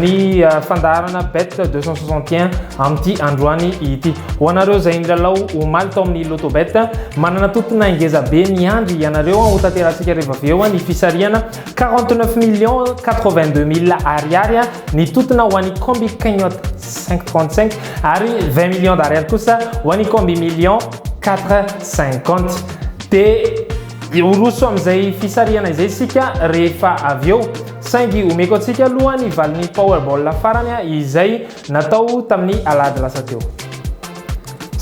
ny fandaharana bet 261 amin'ity androany ity. Ho anareo izay nilalao omaly tao amin'ny Lotto Bet, manana tontona ngeza be miandry ianareo. Ho tanterahantsika rehefa avy eo ny fisarihana 49 millions 82 mille ariary ny tontona ho an'ny Combi Cagnotte 535 ary 20 millions d'ariary kosa ho an'ny Combi Millions 450. Dia horoso amin'izay fisarihana izay isika rehefa avy eo. Saingy omeko antsika aloha ny valin'ny Powerball farany izay natao tamin'ny alahady lasa teo.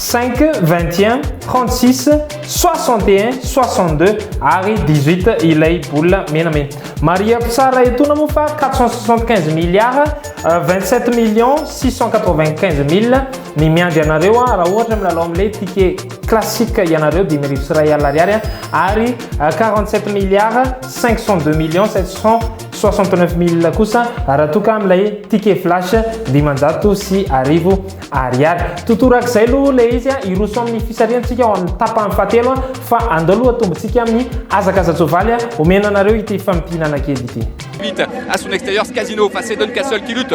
Cinq, vingt et un, trente six, soixante et un, soixante deux ary dix huit ilay bola menamena. Marihako tsara etoana moa fa quatre cent soixante quinze milliards vingt sept millions six cent quatre vingt quinze mille ny miandry anareo raha ohatra milalao amin'ilay ticket. Classique ianareo dimy arivo sy iray alina ariary ary 47 milliards 502 millions 769 mille kosa raha toa ka amin'ilay ticket flash dimanjato sy arivo ariary. Totorak'izay aloha ilay izy, hiroso amin'ny fisarihantsika ao amin'ny tapany fahatelo fa andao aloha atombontsika amin'ny hazakaza-tsoavaly omena anareo ity fampihinanan-kely ity. Pete, à son extérieur ce casino, face c'est Don Castle qui lutte,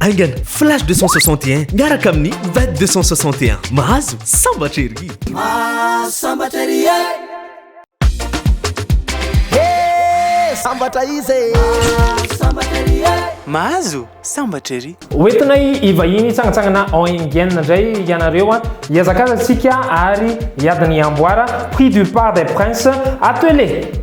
Aingana, Flash 261 miaraka amin'ny Ved 261. Mahazo sambatra ery! Mahazo sambatra ery e! Hey! Sambatra izy e! Mahazo sambatra ery e! Mahazo sambatra ery! Hoentinay hivahiny hitsangantsangana ao Indienne indray ianareo a! Hihazakazaka isika ary hiady ny amboara, prix du part des princes attelé!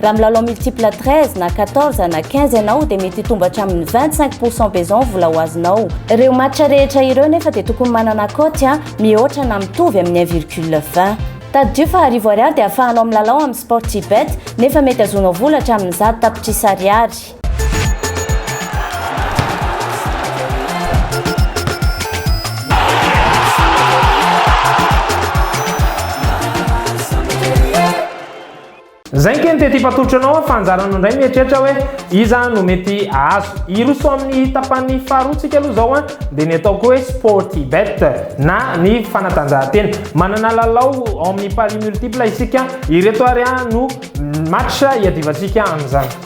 Raha milalao multiple 13 na 14 na 15 ianao dia mety hitombo hatramin'ny 25 pourcent be izao ny vola ho azonao. Ireo match rehetra ireo nefa dia tokony manana cote a mihoatra na mitovy amin'ny 1 virgule 20. Tadidio fa arivo ariary dia ahafahanao milalao amin'ny Sportybet nefa mety azonao vola hatramin'ny zato tapitrisa ariary. Zay keny tety fatolotro anao fa anjaranao ndray mieritreritra hoe iza no mety ahazo. Hiroso amin'ny tapany faharoa tsika aloha zao an dia ny ataoko hoe Sportybet na ny fanatanjahantena. Manana lalao ao amin'ny paris multiple isika, ireto ary no match hiadivantsika amin'izany.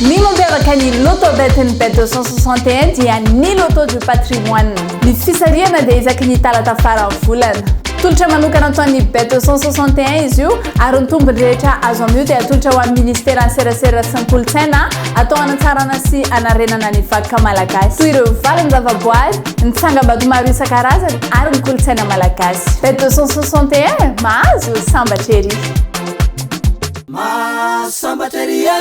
Ny mampiavaka ny Loto Bet'Ny Bet 261 dia ny Loto du Patrimoine. Ny fisarihana dia isaky ny talata faran'ny volana. Tolotra manokana ataon'ny Bet 261 izy io ary ny tombony rehetra azo amin'io dia atolotra ho an'ny Ministeran'ny Serasera sy ny Kolontsaina atao hanatsarana sy hanarenana ny vakoka malagasy toy ireo valin-javaboary, ny tsangambato maro isan-karazany ary ny kolontsaina malagasy. Bet 261, mahazo sambatra ery! Mahasambatra ery e!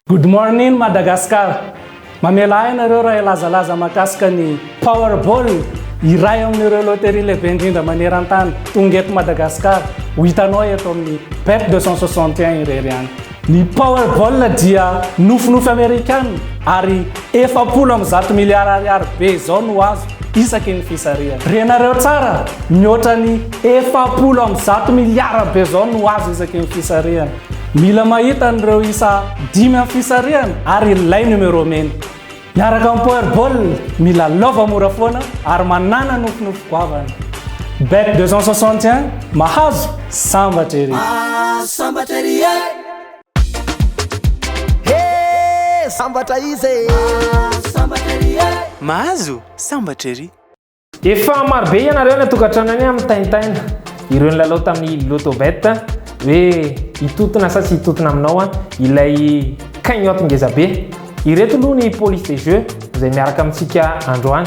Good morning Madagascar! Mamela ahy ianareo raha hilazalaza mahakasika ny Powerball, iray amin'ireo loterie lehibe indrindra maneran-tany. Tonga eto Madagasikara, ho hitanao eto amin'ny Bet 261 irery ihany. Ny Powerball dia nofinofy Amerikana ary efapolo amby zato miliara ariary be izao no azo isaky ny fisarihana. Renareo tsara, mihoatra ny Efapolo amby zato miliara be izao no azo isaky ny fisarihana. Mila mahita an'ireo isa dimy amin'ny fisarihana ary ilay numéro mena. Miaraka amin'ny Powerball, mila lova mora foana ary manàna nofinofy goavana. Bet 261, mahazo, sambatra ery! Ah, sambatra ery e! He, sambatra iza e! Ah, sambatra ery e! Mahazo, sambatra ery! Efa marobe ianareo any an-tokantrano any mitaintaina ireo nilalao tamin'ny Lotobet hoe hitotona sa tsy hitotona aminao ilay cagnotte ngeza be. Ireto aloha ny police des jeux izay miaraka amintsika androany.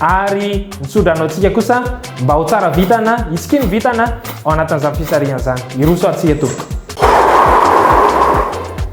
Ary ny tso-drano antsika kosa mba ho tsara vintana, hitsikiany vintana ao anatin'izany fisarihana izany. Hiroso ary tsika tompoko.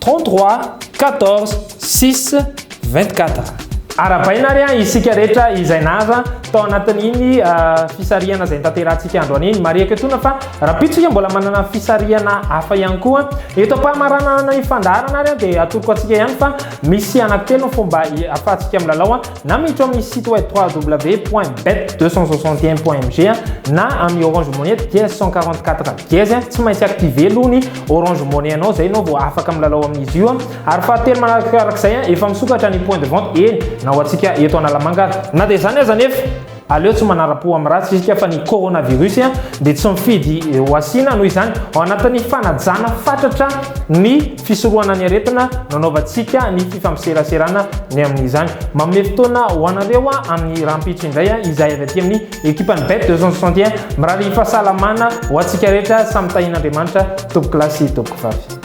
33 14 6 24. Arahabaina ary an isika rehetra izay naza tao anatin'iny fisarihana izay nitanterahantsika androany iny. Marihako etoana fa rahampitso isika mbola manana fisarihana hafa ihany koa. Eto am-pamaranana ny fandaharana ary dia atoroko antsika ihany fa misy anankitelo ny fomba ahafahantsika milalao Na miditra ao amin'ny site web www.bet261.mg na amin'ny Orange Money dia 144 dièse, tsy maintsy activer aloha ny Orange Money anao izay ianao vao afaka milalao amin'izy io. Ary fahatelo manarakarak'izay, efa misokatra ny point de vente, eny, na ho antsika eto Analamanga ary. Na dia izany aza anefa, Aleo tsy manara-po amin'ny ratsy isika fa ny coronavirus dia tsy mifidy ho asiana, noho izany ao anatin'ny fanajana fatratra ny fisorohana ny aretina no anaovantsika ny fifampseraserana ny amin'izany. Manome fotoana ho anareo amin'ny rahampitso indray izahay avy aty amin'ny ekipan'ny bet 261. Mirary fahasalamana ho antsika rehetra samy tahian'Andriamanitra tompokolahy sy tompokvavy.